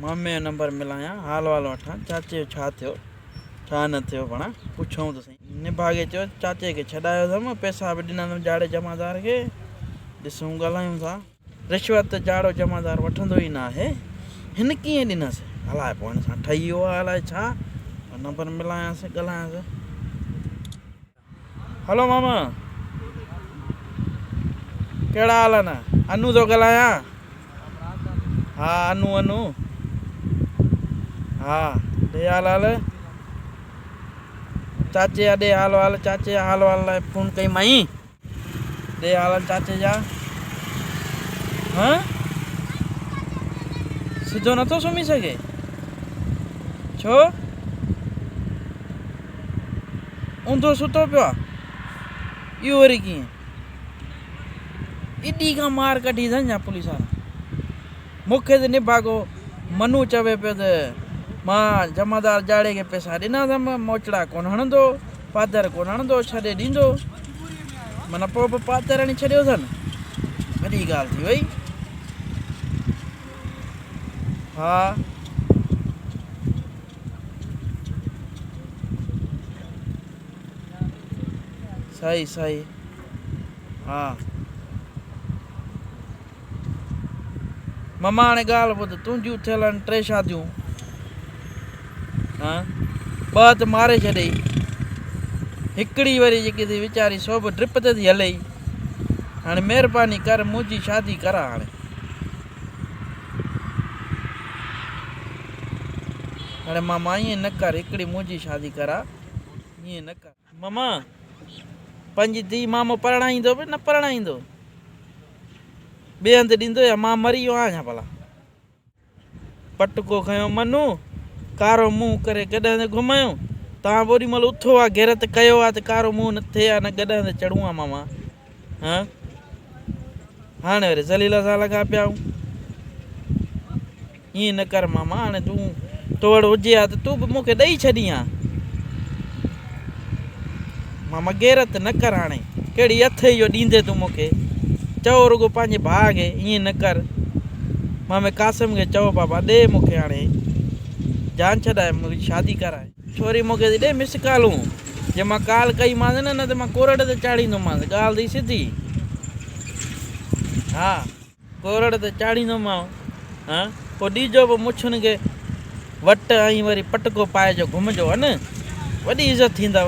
مامي جو نمبر ملايان، حال وال وٺان، چاچي جو ڇا ٿيو، ڇا نه ٿيو ڀڻا پڇون ته سهي. نڀاڳي چيو، چاچي کي ڇڏايو اٿم، پئسا به ڏنا اٿم جاڙي جمعدار کي، ڏسون ڳالهايون ٿا. رشوت ته جاڙو جمعدار وٺندو ئي نه آهي، هن ڪيئن ڏنس، الائي پوء هن سان ٺهي ويو آهي الائي ڇا، پر نمبر ملايانس، ڳالهايانس. هلو ماما ڪهڙا حال آهن انو ٿو ڳالهايان ها انو انو ها ڏي حال حال چاچي جا ڏي حال حال چاچي جا حال حال لاء فون ڪئي مائي ڏي حال حال چاچي جا ها سڌو نٿو سمهي سگهي ڇو اوندهو ستو پيو آ، اهو وري ڪيئن؟ ايڏي کان مار ڪڍي اٿن ڇا پوليس وارا؟ مون کي ته نڀاڳو منو چوي پيو ته مان جمعدار جاڙي کي پئسا ڏنا اٿم، موچڙا ڪونه هڻندو، پادر ڪونه هڻندو، ڇڏي ڏيندو. من پوء به پادر هڻي ڇڏيو اٿن. وڏي ڳالهه ٿي وئي. ها. صحيح صحيح ها مما هاڻي ڳالهه ٻڌ تنهنجون ٿيل آهن ٽي شاديون ها ٻ هٿ ماري ڇڏي هڪڙي وري جيڪي ٿي ويچاري سو به ڊپ تي ٿي هلي هاڻي مهرباني ڪر منهنجي شادي ڪر هاڻي اڙي ماما ائين نه ڪر هڪڙي منهنجي شادي ڪرا ائين نه ڪر. ماما پنهنجي ڌي مامو پرڻائيندو به نه پرڻائيندو ٻئي هنڌ ڏيندو يا مان مري ويو آهيان ڀلا پٽڪو کنيو منو ڪارو منهن ڪري گڏهه تي گهميو توهان به اوڏي مهل اٿو ها غيرت ڪيو ها ته ڪارو منهن نه ٿئي ها نه گڏهه تي چڙهون ها ماما ها هاڻي وري ذليل سان لڳا پيا آهيون ائين نه ڪر ماما هاڻي تون تو وٽ هجي ها ته تون به مون کي ڏئي ڇڏين ها ماما غيرت نه ڪر هاڻي ڪهڙي اٿ اهو ڏيندي تون مون کي چئو رڳو پنهنجي ڀاء کي ائين نه ڪر مامي قاسم کي چئو بابا ڏي مون کي هاڻي جان ڇڏائي منهنجي شادي ڪرائي ڇوري مون کي ٿي ڏئي مس ڪالون جي مان ڪال ڪئي مانس نه نه ته مان ڪورٽ تي چاڙهيندو مانس ڳالهه ٿي سڌي ها ڪورٽ تي چاڙهيندو مانو ها پو ڏيجو به مڇن کي وٽ ۽ وري پٽڪو پائي جو گهمجو ان وڏي عزت ٿيندو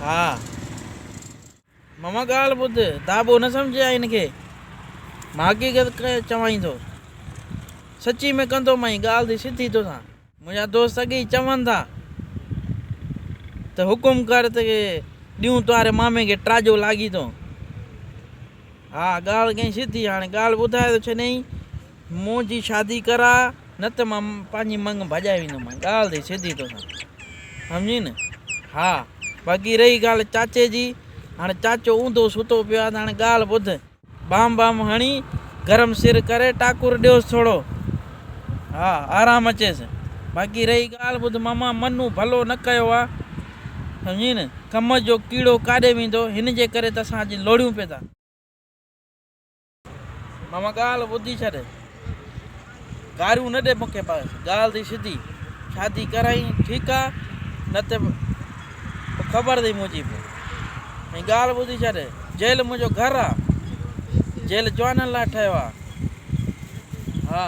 ها ماما ڳالهه ٻڌ، دابو نه سمجهيائين هن کي، مان حقيقت چوانئين ٿو. سچي ۾ ڪندو مئين ڳالهه ٿي سڌي توسان. منهنجا دوست اڳي ئي چون ٿا ته حڪم ڪر ته ڏيون توهاري مامي کي ٽراجو لاڳيتو. ها ڳالهه ڪئين سڌي، هاڻي ڳالهه ٻڌائي ٿو ڇڏيئين. منهنجي شادي ڪراء نه ته مان پنهنجي منڱ ڀڄائي ويندومانء ڳالهه ٿي سڌي توسان سمجهين نه ها باقي رهي ڳالهه چاچي جي هاڻي چاچو اونڌو ستو پيو آهي ته هاڻي ڳالهه ٻڌ بام بام هڻي گرم سر ڪري ٽاڪر ڏيوس ٿورو ها آرام اچيس باقي رهي ڳالهه ٻڌ ماما منون ڀلو نه ڪيو آهي سمجهين نه ڪم جو ڪيڙو ڪاڏي ويندو هن جي ڪري ته اسان اڄ لوڙيون پيدا. ماما ڳالهه ٻڌي ڇڏ. گاريون نه ڏي مون کي بس ڳالهه ٿي سڌي. شادي ڪرائين ٺيڪ آ نه ته پوء خبر اٿئي منهنجي به. ۽ ڳالهه ٻڌي ڇڏ جيل منهنجو گهر آ. جيل جوانن لاء ٺهيو آ. ها.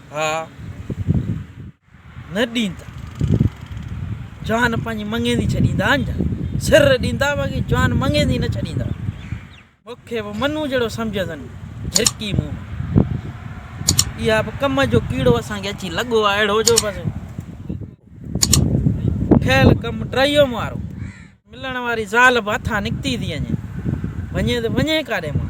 ها نه ڏيندا جان پنهنجي مڱيندي ڇڏيندا اڃا سر ڏيندا باقي جان مڱيندي نه ڇڏيندا مون کي به منو جهڙو سمجهندن جهرڪي مون اها به ڪم جو ڪيڙو اسان کي اچي لڳو آهي اهڙو جو بس کيل ڪم ٽريو مارو ملڻ واري زال به هٿان نڪتي ٿي وڃي وڃي ته وڃي ڪاڏي مان